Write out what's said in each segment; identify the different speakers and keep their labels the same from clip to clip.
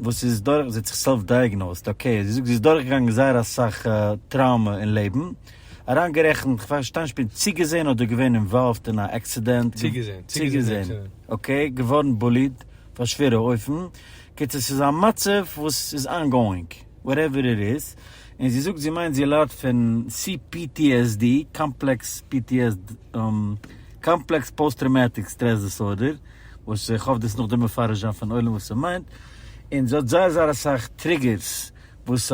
Speaker 1: וואס זי איז דורך, זי האט זיך סעלף דייעגנאוזד, אקעי, זי זאגט זי איז דורכגעגאנגען זייער אסאך טראומע אין לעבן, אריינגערעכנט, כ'פארשטיי נישט, כ'בין צוגעזען אדער געווען אינוואלווד אין א עקסידענט? צוגעזען, צוגעזען.
Speaker 2: אקעי, געווארן
Speaker 1: בוליד אויף א שווערע אופן, קיצור ס'איז א מצב וואס איז אנגאואינג, וואטעווער איט איז, און זי זאגט זי מיינט זי ליידט פון CPTSD, קאמפלעקס פי טי עס די, קאמפלעקס פאוסט טראומאטיק סטרעס דיסארדער, וואס איך האף דאס נאכדעם מפרש זיין פארן עולם וואס ס'מיינט, און ס'האט זייער זייער אסאך טריגערס וואס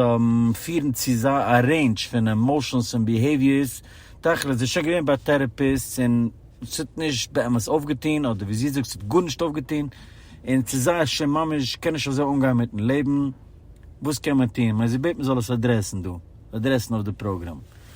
Speaker 1: פירן צו א רעינדזש פון עמאושענס און ביהעיוויערס, תכלית זי איז שוין געווען ביי טערעפיסטס און ס'האט נישט באמת אויפגעטון, אדער ווי זי זאגט ס'האט גארנישט אויפגעטון, און ס'איז זייער שוין ממש קען נישט אזוי אנגיין מיטן לעבן, וואס קען מען טון? כ'מיין זי בעט מ'זאל עס אדרעסן דא, אדרעסן אויף די פראגראם.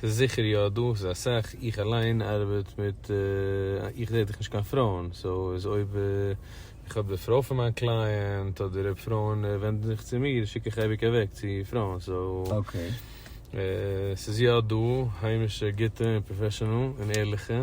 Speaker 2: ס'איז זיכער יא דא, ס'איז אסאך, איך אליין ארבעט מיט, איך דעיט דאך נישט קיין פרויען, סאו איז אויב איך האב די פרוי פון מיין קלייענט, אדער אויב פרויען ווענדן זיך צו מיר שיק איך אייביג אוועק צו פרויען, סאו ס'איז יא דא היימישע גוטע און פראפעשענעל און ערליכע.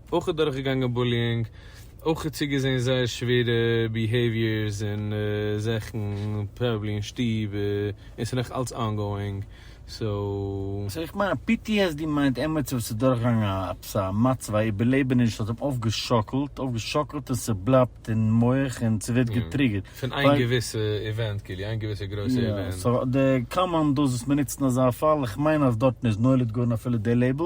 Speaker 2: אויך איז דורכגעגאנגען בוליאינג, אויך איז צוגעזעהן זייער שווערע ביהעיוויערס און זאכן, פראבעבלי אין שטוב, און ס'איז נאך אלץ אנגאואינג, סאו. סאו איך מיין
Speaker 1: ptsd מיינט עמיצער וואס איז דורכגעגאנגען א עפעס א מצב, א איבערלעבעניש וואס האט אים אויפגעשאקלט, אויפגעשאקלט און ס'בלייבט אין מח און ס'ווערט געטריגערט. פון איין געוויסע
Speaker 2: איווענט כאילו, איין געוויסע גרויסע איווענט. יא, סאו די
Speaker 1: קאמאנדאס וואס מ'נוצט אין אזא פאל, איך מיין אז דארטן איז נולד גאון אפילו די לעיבל,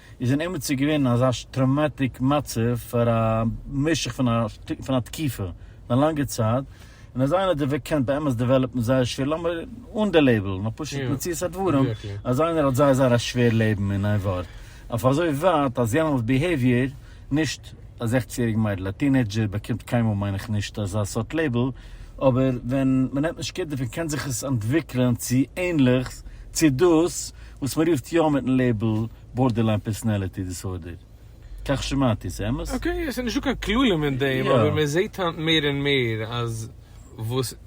Speaker 1: איז אין אימעצער געווען אזא טראומאטיק מצב פאר א משך פון א פון א תקופה פון א לאנגע צייט, און אז איינער דערוועגט קען באמת דעוועלאפן זייער שווער, לאמיר אן די לעבעל, נאר פשוט מציאות הדברים אז איינער האט זייער זייער א שווער לעבן אין איין ווארט, אויף אזוי ווייט אז יענעמס ביהעיוויער נישט א זעכציג יעריגע מיידל, א טינעידזשער באקומט קיינמאל מיין איך נישט אזא סארט לעיבל, אבער ווען מ'נעמט נישט קער דערפון קען זיך עס אנטוויקלען צו ענליכס צו דאס וואס מ'רופט יא מיטן לעיבל בארדערליין פערסאנעליטי דיסארדער. כך שמעתי, ס'אמת? אקעי, עס איז נישטא קיין כללים אין דעם, אבער מען זעט היינט מער און
Speaker 2: מער אז וואס.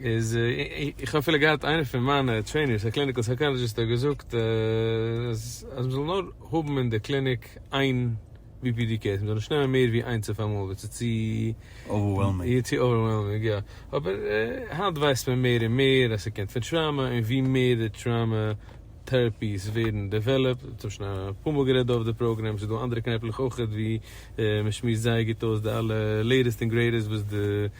Speaker 2: איז איך האב אפילו געהאט איינער פון מיינע טרעינערס א קליניקעל סייקאלעדזשיסט האט געזאגט אז אז מ'זאל נאר האבן אין די קליניק איין BPD קעיס, מ'זאל נישט נעמען מער ווי איינס אויף אמאל ווייל ס'איז צו אווערוועלמינג, צו אווערוועלמינג יא, אבער היינט ווייסט מען מער און מער אז ס'קומט פון טראומא און ווי מער די טראומא טעראפיס ווערן דעוועלאפט, אונז האבן שוין אפאר מאל גערעדט דא אויף די פראגרעם, ס'איז דא אנדערע קנעפלעך אויכעט ווי מ'שמועסט זייער גוט אויס די אלע לעיטעסט און גרעיטעסט וואס די.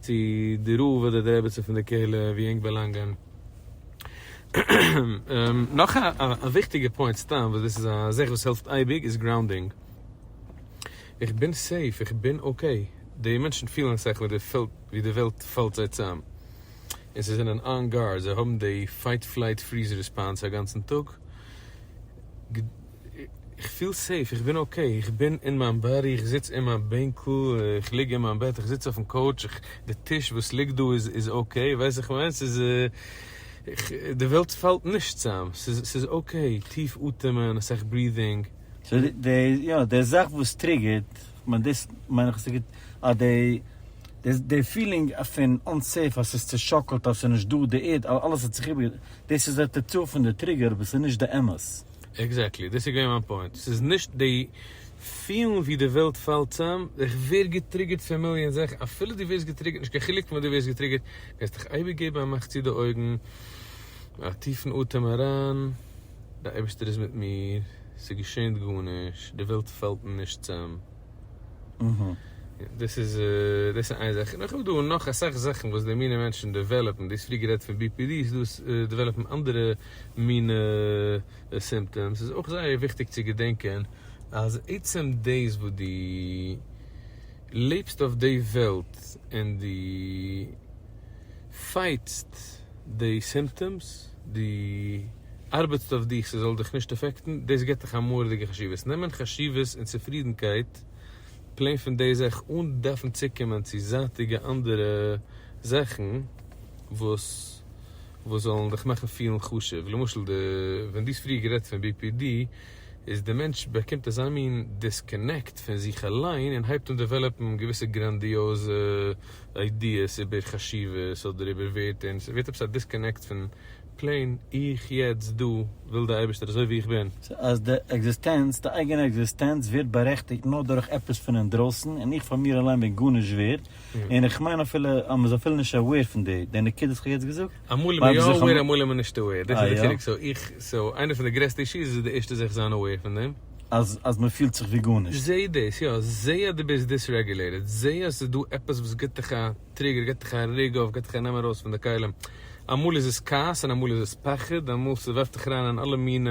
Speaker 2: צו די רב אדער די רעביצין פון די קהלה ווי ענק באלאנגען. נאך א וויכטיגע פוינט סתם וואס דאס איז א זאך וואס העלפט אייביג איז גראונדינג. איך בין סעיף, איך בין אקעי. די מענטשן פילן אסאך ווי די פעלט ווי די וועלט פאלט זיי צאם. און זיי זענען אן גארד, זיי האבן די פייט פלייט פריז ריספאנס א גאנצן טאג. איך פיל סעיף, איך בין אקעי, איך בין אין מיין באדי, איך זיץ אין מיין בענקל, איך ליג אין מיין בעט, איך זיץ אויפן קאוטש, די טיש וואס ליגט דא איז אקעי, ווייסט וואס איך מיין? ס'איז, איך, די וועלט פאלט נישט צאם, ס'איז, ס'איז אקעי, טיף אטעמען, אסאך ברידינג. סאו די,
Speaker 1: יא, די זאך וואס טריגערט, כ'מיין דאס מיין איך אז ס'גוט, אז די, די, די פילינג פון אנסעיף, אז ס'איז צושאקלט, אז ס'איז נישטא, די ערד, אלעס האט זיך איבער, דאס איז די תוצאה פון די טריגער, אבער ס'איז נישט די אמת. עקזעקטלי, דאס איז געווען
Speaker 2: מיין פוינט, ס'איז נישט די פילן ווי די וועלט פאלט צאם, איך ווער געטריגערט פון מיליאן זאכן, אפילו דו ווערסט געטריגערט, נישט קיין חילוק פון וואס דו ווערסט געטריגערט, וועסט דיך אייביג געבן א מאך צו די אויגן, א טיפן אטעם אריין, דער אייבערשטער איז מיט מיר, ס'געשענט גארנישט, די וועלט פאלט נישט צאם. דאס איז איין זאך,
Speaker 1: און
Speaker 2: איך האב דא נאך אסאך זאכן וואס די מינע מענטשן דעוועלאפן, דו האסט פריער גערעדט פון BPD, ס'דא וואס דעוועלאפן אנדערע. מינע סימפטעמס איז אויך זייער וויכטיג צו געדענקען אז עצם דאס וואס דו לעבסט אויף די וועלט און דו פייטסט די סימפטעמס, דו ארבעטסט אויף דיך ס'זאל דיך נישט אפעקטן, דאס גיבט דיך א מורא'דיגע חשיבות. נעמען חשיבות און צופרידנקייט פלעין פון די זאך אן דארפן צוקומען צו זייטיגע אנדערע זאכן וואס. וואס זאלן דיך מאכן פילן חשוב, למשל די ווען דו האסט פריער גערעדט פון BPD, איז די מענטש באקומט אזא מין דיסקאנעקט פון זיך אליין און הייבט אן דעוועלאפן געוויסע גראנדיעזע איידיעס איבער חשיבות אדער איבער ווערטער און ס'ווערט עפעס א דיסקאנעקט פון פלעין איך יעצט דא וויל די אייבערשטער אזוי ווי איך בין. סאו אז די
Speaker 1: עקזיסטענץ, די אייגענע עקזיסטענץ ווערט בארעכטיגט נאר דורך עפעס פון אינדרויסן און איך פאר מיר אליין בין גארנישט ווערד, און איך מיין אפילו אז מ'איז אפילו נישט אוועיר פון די די נקודות וואס כ'האב יעצט געזאגט. אמאל איז מען יא אוועיר
Speaker 2: אמאל איז מען נישט אוועיר, דאס איז די חילוק, סאו איך, סאו איינע פון די גרעסטע אישוס איז די ערשטע זיך זיין אוועיר פון דעם. אז אז מ'פילט
Speaker 1: זיך ווי גארנישט. זע דאס, יא, זע
Speaker 2: אז דו ביסט דיסרעגולעיטעד, זע אז ס'איז דא עפעס וואס גיבט דיך א טריגער, גיבט דיך א רעג אויף, גיבט דיך א נעם ארויס פון די כלים, אמאל איז עס כעס און אמאל איז עס פחד, אמאל ס'ווארפט דיך אריין אין אלע מיני.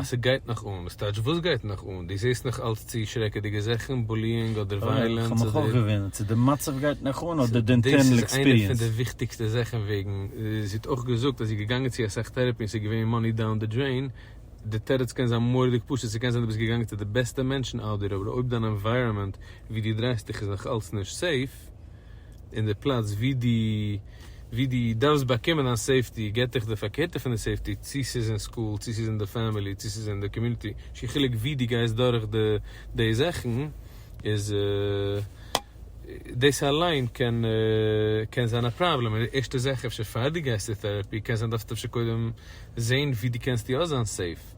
Speaker 1: אז ס'גייט
Speaker 2: נאך אן, וואס טייטש וואס גייט נאך אן? דו זעסט נאך אלץ צו שרעקעדיגע זאכן, בוליאינג אדער ווייעלענס אדער? כ'האב מיך אויך געוואונדערט צו
Speaker 1: די מצב גייט נאך אן אדער די אינטערנעל עקספיריענס. דאס איז איינע פון די וויכטיגסטע
Speaker 2: זאכן וועגן, זי האט אויך געזאגט אז זי איז געגאנגען צו אסאך טערעפי און ס'איז געווען מאני דאון די דרעין, די תירוץ קען זיין מורא'דיג פשוט, ס'קען זיין דו ביסט געגאנגען צו די בעסטע מענטשן אאוט דער אבער אויב דיין ענווייראמענט ווי דו דרייסט דיך איז נאך אלץ נישט סעיף, און די פלאץ ווי די ווי די דארפסט באקומען א סעיפטי געט דיך די פארקערטע פון די סעיפטי צו ס'איז אין סקול צו ס'איז אין די פעמילי צו ס'איז אין די קאמיוניטי נישט קיין חילוק ווי די גייסט דורך די די זאכן איז דאס אליין קען קען זיין א פראבלעם און ערשטע זאך אפשר פאר די גייסט צו טערעפי קען זיין דארפסטו אפשר קודם זעהן ווי די קענסט יא זיין סעיף.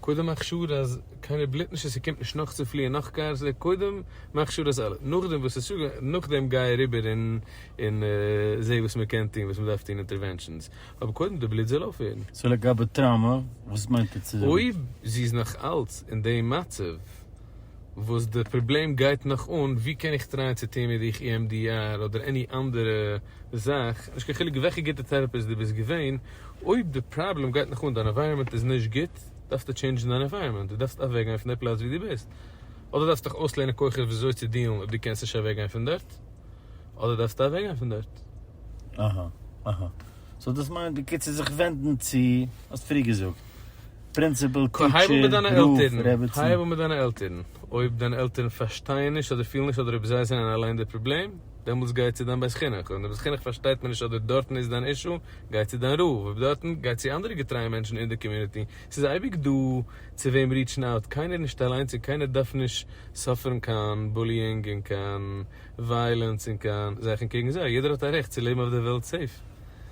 Speaker 2: קודם מאך שור אז קיינער בלוט נישט אז ס'קומט נישט נאך צו פליען נאך קארס ל ע קודם מאך שור אז אלע נאכדעם וואס ס'איז שוג נאכדעם גיי אריבער און און זע וואס מ'קען טון וואס מ'דארף טון אינטערווענשאנס אבער קודם די בלוט זאל אויפהערן. סאו לגבי טראמא
Speaker 1: וואס מיינט עטס? אויב זי איז נאך
Speaker 2: אלץ אין דעם מצב. וואס די פראבלעם גייט נאך אן, ווי קען איך טרייען צו טוהן מיט דיך EMDR אדער עני אנדערע זאך, נישט קיין חילוק וועלכע גוטע טערעפיסט די ביסט געווען, אויב די פראבלעם גייט נאך אן, דיין עווייראמענט איז נישט גוט, דארפסטו טשעינדזשן דיין עווייראמענט, די דארפסט אוועק גיין פון די פלאץ ווי די ביסט, אדער דארפסט דיך אויסלערנען כוחות וויאזוי צו דיעלן אויב די קענסט נישט אוועק גיין פון דארט, אדער דארפסטו אוועק גיין פון דארט. אהה אהה,
Speaker 1: סאו דאס מיינט בקיצור זיך ווענדן צו, האסט פריער געזאגט. פרינציפעל
Speaker 2: טיטשער הרב
Speaker 1: רעבעצן. הייב
Speaker 2: אן מיט
Speaker 1: דיינע
Speaker 2: עלטערן. אויב דיינע עלטערן פארשטייען נישט אדער פילן נישט אדער אויב זיי זענען אליין די פראבלעם, דעמאלטס גיי צו דיין בית חינוך. אויב אין די בית חינוך פארשטייט מען נישט אדער דארטן איז דיין אישו, גיי צו דיין רב. אויב דארטן, גיי צו אנדערע געטרייע מענטשן אין די קאמיוניטי. ס'איז אייביג דא צו וועם ריעטשן אוט. קיינער נישט אליינס און קיינער דארף נישט סאפערן קיין בוליאינג און קיין ווייעלענס און קיין זיך און קעגן זיי. יעדער האט א רעכט צו לעבן אויף דער וועלט סעיף.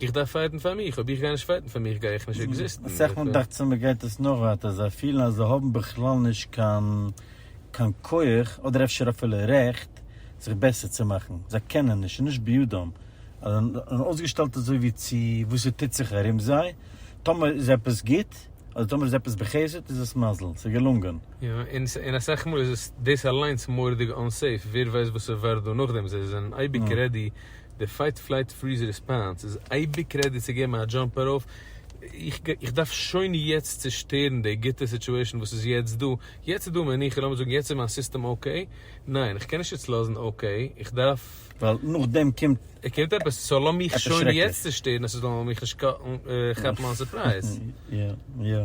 Speaker 2: איך דארף פייטן פאר מיך, אויב איך גיי נישט פייטן פאר מיך גיי איך נישט עקזיסטן. אסאך מאל דאכט זיך מען
Speaker 1: גייט עס נאך ווייטער, זיי פילן אז זיי האבן בכלל נישט קיין קיין כח, אדער אפשר אפילו רעכט, זיך בעסער צו מאכן, זיי קענען נישט, ס'איז נישט בידם, אז זיי זענען אויסגעשטעלט אזוי ווי צו וואס ס'טוט זיך ארום זיי, טאמער איז עפעס גוט, אדער טאמער איז עפעס בחסד איז עס מזל, ס'איז געלונגען. יא, און
Speaker 2: אסאך מאל איז עס דאס אליינס מורא'דיג אנסעיף, ווער ווייסט וואס ס'ווארט דא נאכדעם, זיי זענען אייביג רעדי. די פייט פלייט פריז ריספאנס איז אייביג רעדי צו געבן א דזשאמפ ארויף, איך דארף שוין יעצט צושטערן די גוטע סיטועשן וואס איז יעצט דא, יעצט איז דא מנוחה, לאמיר זאגן יעצט איז מיין סיסטעם אקעי, ניין איך קען נישט יעצט לאזן אקעי, איך דארף. ווייל נאכדעם
Speaker 1: קומט. קומט עפעס, סאו
Speaker 2: לאמיך שוין יעצט צושטערן אז ס'זאל מיך נישט כאפן אן סורפרייז. יא יא.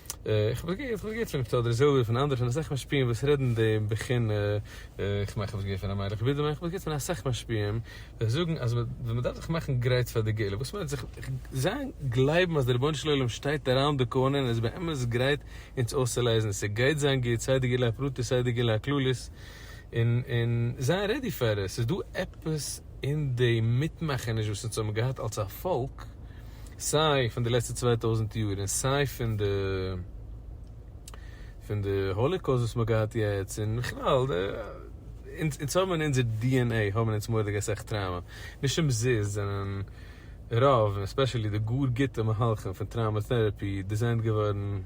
Speaker 2: איך האב עס געהערט פון אפטער אדער זעלדער פון אנדערע פון אסאך משפיעים וואס רעדן די בחינה, איך מיין איך האב עס געהערט פון ר' מאיר איך ווידער מיין איך האב עס געהערט פון אסאך משפיעים וועלכע זאגן אז ווען מען דארף זיך מאכן גרייט פאר די גאולה וואס מיינט זיך זיין גלייבן אז דער רבונו של עולם שטייט אראונד די קארנער און איז באמת גרייט אונז אויסצולייזן ס'גייט זיין גוט סיי די גאולה הפרטית סיי די גאולה הכללית. און און זיין רעדי פאר עס, ס'איז דא עפעס אין די מיטמאכעניש וואס אונז האבן געהאט אלס א פאלק, סיי פון די לעצטע צוויי טויזנט יאר און סיי פון די פון די האליקאוסט וואס מ'האט געהאט יעצט, און בכלל די, אונז אונז האבן אין אונזער די ען עי האבן אונז מורא'דיג אסאך טראומא, נישט אומזיסט זענען רוב און עספעשעלי די גאר גוטע מהלכים פון טראומא טעראפי דיזיינט געווארן,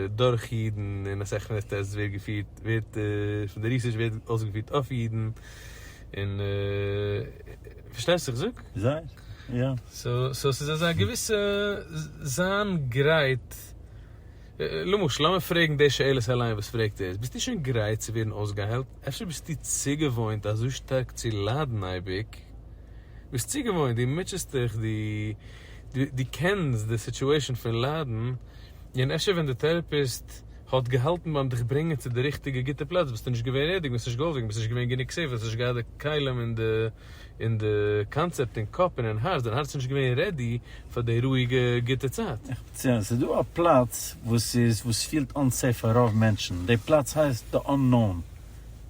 Speaker 2: דורך אידן און א סכנה אז עס ווערט געפירט ווערט פון די ריסערטש ווערט אויסגעפירט אויף אידן און פארשטייסט וואס איך זאג?
Speaker 1: זייער יא. סאו ס'איז
Speaker 2: אזא געוויסע זיין גרייט למשל לאמיר פרעגן די שאלות אליין וואס פרעגט ער ביסטו שוין גרייט צו ווערן אויסגעהיילט? אפשר ביסטו צוגעוואוינט אזוי שטארק צו ליידן אייביג? ביסט צוגעוואוינט דו מוטשעסט דיך דו קענסט די סיטואעישאן פון ליידן. און אפשר ווען די טערעפיסט האט געהאלטן ביים דיך ברענגען צו די ריכטיגע גוטע פלאץ ביסטו נישט געווען רעדיג, ביסט נישט געוואויר געווען, ביסט נישט געווען גענוג סעיף, האסט נישט געהאט די כלים און די און די קאנצעפט אין קאפ און אין הארץ, דיין הארץ איז נישט געווען רעדי פאר די רואיגע גוטע צייט. איך בין צו ענק, ס'איז דא א
Speaker 1: פלאץ וואס איז וואס פילט אנסעיף פאר רוב מענטשן, די פלאץ הייסט די אננאון.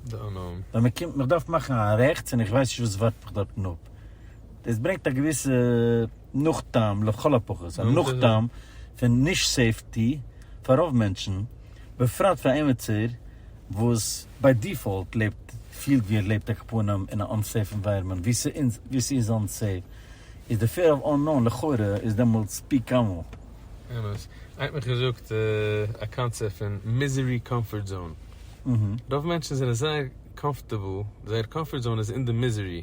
Speaker 1: די אננאון.
Speaker 2: ווען מען קומט מיך דארף מאכן
Speaker 1: א רעכטס און איך ווייס נישט וואס ווארט מיך דארטן אפ, דאס ברענגט א געוויסע. נאך טעם, לכל הפחות א נאך טעם פון נישט סעיפטי פאר רוב מענטשן, בפרט פאר א עמעצער וואס ביי דיפאלט לעבט פילט ווי ער לעבט ע כ פנים אין א אנסעיף אינווייראמענט ווי ס'איז אנסעיף, איז די פעיר אוו אננאון לכאורה איז דעמאלטס פי כמה. אמת. איינער האט
Speaker 2: מיך געזאגט א קאנצעפט פון מיזערי קאמפארט זאון. רוב מענטשן זענען זייער קאמפארטעבל, זייער קאמפארט זאון איז אין די מיזערי.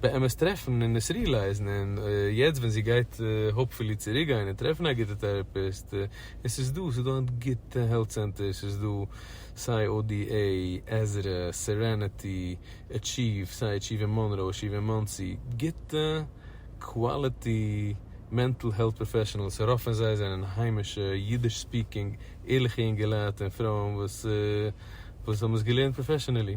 Speaker 2: באמת טרעפן און עס רילייזן און יעצט ווען זי גייט האופפולי צוריק גיין און טרעפן א גוטע טעראפיסט און ס'איז דא ס'איז דא היינט גוטע העלט צענטערס ס'איז דא סיי ODA, עזרא, סערענעטי, עטשיוו, סיי עטשיוו אין מאנרא, עטשיוו אין מאנסי, גוטע קוואליטי מענטל העלט פראפעשענעלס, רוב פון זיי זענען היימישע אידיש ספיקינג ערליכע אינגעלייט און פרויען וואס האבן עס געלערנט פראפעשענעלי.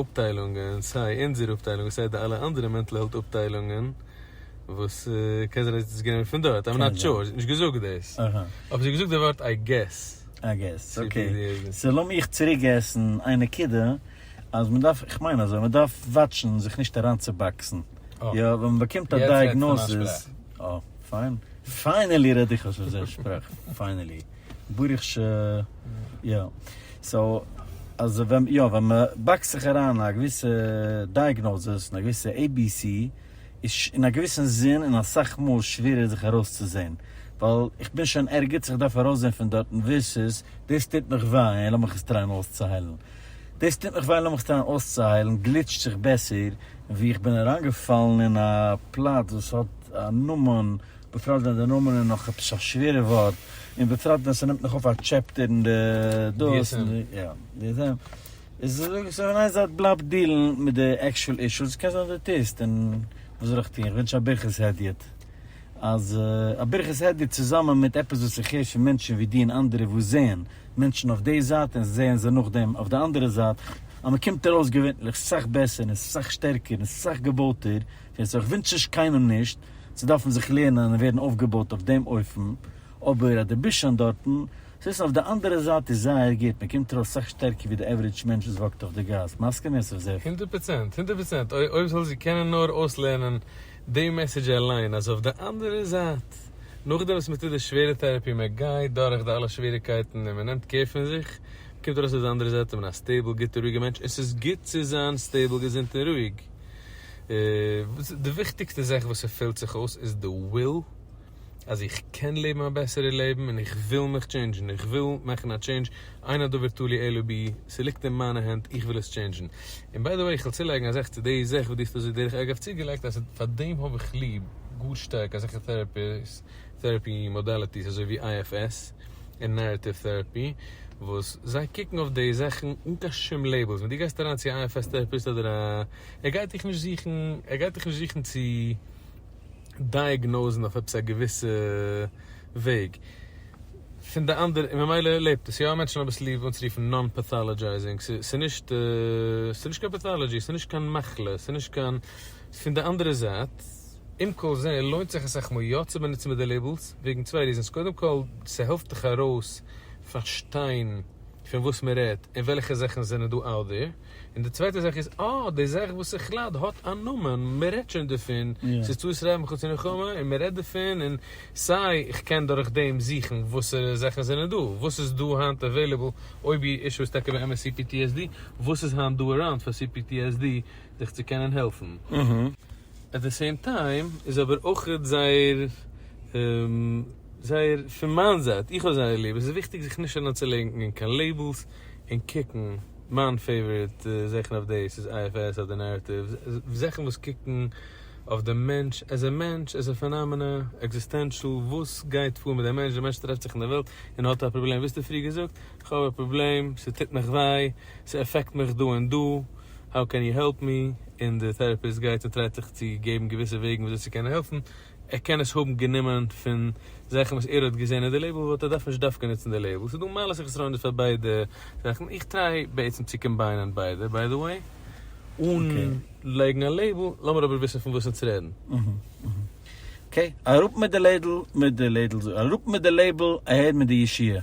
Speaker 2: אפטיילונגען, סיי אונזער אפטיילונג און סיי די אלע אנדערע מענטל העלט אפטיילונגען, וואס קען זיין אז עס איז גענומען פון דארט, איים נאט שור, עס איז נישט געזאגט דאס, אבער זי האט געזאגט די ווארט איי געס. איי געס, אקעי,
Speaker 1: סאו לאמיך צוריקגעסן איין נקודה, אז מען דארף, איך מיין אזוי, מען דארף וואטשן זיך נישט אריינצובאקסן, יא, ווען מען באקומט א דייעגנאזיס, אה, פיין, פיינעלי רעד איך אויס אזא שפראך, פיינעלי. ברוך ש יא סאו אז ווען יא ווען מען באקסט זיך אריין אין א געוויסע דייעגנאזעס אין א געוויסע עי בי סי איז אין א געוויסן זין און אסאך מאל שווערער זיך ארויסצוזעהן ווייל איך בין שוין ערגעץ איך דארף ארויסזעהן פון דארטן ווערסוס דאס טוט מיך וויי און לאמיך עס טרייען אויסצוהיילן דאס טוט מיך וויי לאמיך עס טרייען אויסצוהיילן גליטשט זיך בעסער ווי איך בין אריינגעפאלן אין א פלאץ וואס האט א נאמען בפרט ווען די נאמען איז נאך עפעס א שווערע ווארט, און בפרט ווען ס'נעמט נאך אויף א טשעפטער אין די דאס, די די די די די, סאו אין איין זייט בלייב דיעלן מיט די עקשועל אישו, ס'קען זיין אז די טוסט, און וואס זאל איך טון, איך וואונטש א ברכת הדיוט, אז א ברכת הדיוט צוזאמען מיט עפעס וואס איך הער פון מענטשן ווי דו און אנדערע וואס זעען מענטשן אויף די זייט און זעען זיי נאכדעם אויף די אנדערע זייט, אז מ'קומט ארויס געווענליך סאך בעסער און סאך שטערקער און סאך געבויטער. ווער ס'איז איך ווינטש נישט קיינעם נישט צו דארפן זיך לערנען און ווערן אויפגעבויט אויף דעם אופן, אבער אז דו ביסט שוין דארטן, צו עסן אויף די אנדערע זייט איז זייער גוט, מען קומט ארויס סאך שטערקער ווי די עוורידזש מענטש וואס וואקט אויף די גאס, מסכים יוסף זיו? הונדערט פראצענט, הונדערט פראצענט, אוי
Speaker 2: אויב זאל זי קענען נאר אויסלערנען די מעסעדזש אליין אז אויף די אנדערע זייט, נאכדעם וואס מען טוט די שווערע טעראפי, מען גייט דורך די אלע שוועריקייטן און מען נעמט קער פון זיך, קומט ארויס אויף די אנדערע זייט איז מען א סטעיבל גוטע רואיגע מענטש, עס איז גוט צו זיין סטעיבל געזונט און רואיג. די וויכטיגסטע זאך וואס ס'פעלט זיך אויס איז די וויל אז איך קען לעבן א בעסערע לעבן און איך וויל מיך טשעינדזשן איך וויל מאכן א טשעינדזש אין הדבר תלוי אלא בי ס'ליגט אין מיינע הענט איך וויל עס טשעינדזשן און ביי די וועי איך וויל צולייגן א זאך צו די זאך וואס דו האסט אזוי דרך אגב צוגעלייגט אז פאר דעם האב איך ליב גאר שטארק אזעלכע טעראפי מאדאליטיס אזוי ווי IFS. און נערעטיוו טעראפי וואס זיי קוקן אויף די זאכן אן קיין שום לעיבלס, ווען דו גייסט אריין צו א IFS טעראפיסט אדער א, ער גייט דיך נישט זוכן, ער גייט דיך נישט זוכן צו דייעגנאוזן אויף עפעס א געוויסע וועג, פון די אנדערע, און ממילא לעבט עס, יא מענטשן האבן עס ליב אנצורופן נאן פעטאלעדזשייזינג, ס'איז נישט, ס'איז נישט קיין פעטאלעדזשי, ס'איז נישט קיין מחלה, ס'איז נישט קיין, פון די אנדערע זייט. עם כל זה לוינט זיך עס עכפ יא צו באנוצן מיט די לעיבלס וועגן צוויי ריזענס קודם כל ס'העלפט דיך ארויס פארשטיין פון וואס מ'רעדט און וועלכע זאכן זענען דא out there און די צווייטע זאך איז אה די זאך וואס איך לייד האט א נאמען מ'רעדט שוין דערפון ס'איז צו ישראל מחוץ למלחמה און מ'רעדט דערפון און סיי איך קען דורך דעם זוכן וואסערע זאכן זענען דא וואס איז דא היינט עוועילעבל אויב איר אישו איז טאקע באמת cptsd וואס איז היינט דא אראונד פאר cptsd זיך צו קענען העלפן. עט די סעים טיים איז אבער אויכעט זייער זייער פון מיין זייט איך האב זייער ליב עס איז וויכטיג זיך נישט אריין צו לענקן אין קיין לעיבלס און קוקן מיין פעיוואריט זעכן אויף דעיס איז IFS אדער נערעטיווס זעכן וואס קוקן אויף די מענטש עז ע מענטש עז ע פענאמענא עקזיסטענשאל וואס גייט פאר מיט די מענטש די מענטש טרעפט זיך אין די וועלט און האט א פראבלעם וויאזטו פריער געזאגט איך האב א פראבלעם ס'טוט מיך וויי. ס'עפעקט מיך דא און דא, האו קען יו העלפ מי? און די טערעפיסט גייט און טרייט זיך צו געבן געוויסע וועגן וויאזוי צו קענען העלפן, ער קען עס האבן גענומען פון זאכן וואס ער האט געזען אין די לעיבל וואלט ער דארפן נישט דווקא נוצן די לעיבל, ס'איז דא מעלות און חסרונות פאר ביידע זאכן, איך טריי בעצם צו קאמביינען ביידע ביי די וועי, אן לייגן א לעיבל, לאמיר אבער וויסן פון וואס אונז רעדן. אקעי,
Speaker 1: אראפ מיט די לעדל מיט די לעדל, אראפ מיט די לעיבל, אהער מיט די ישיעה.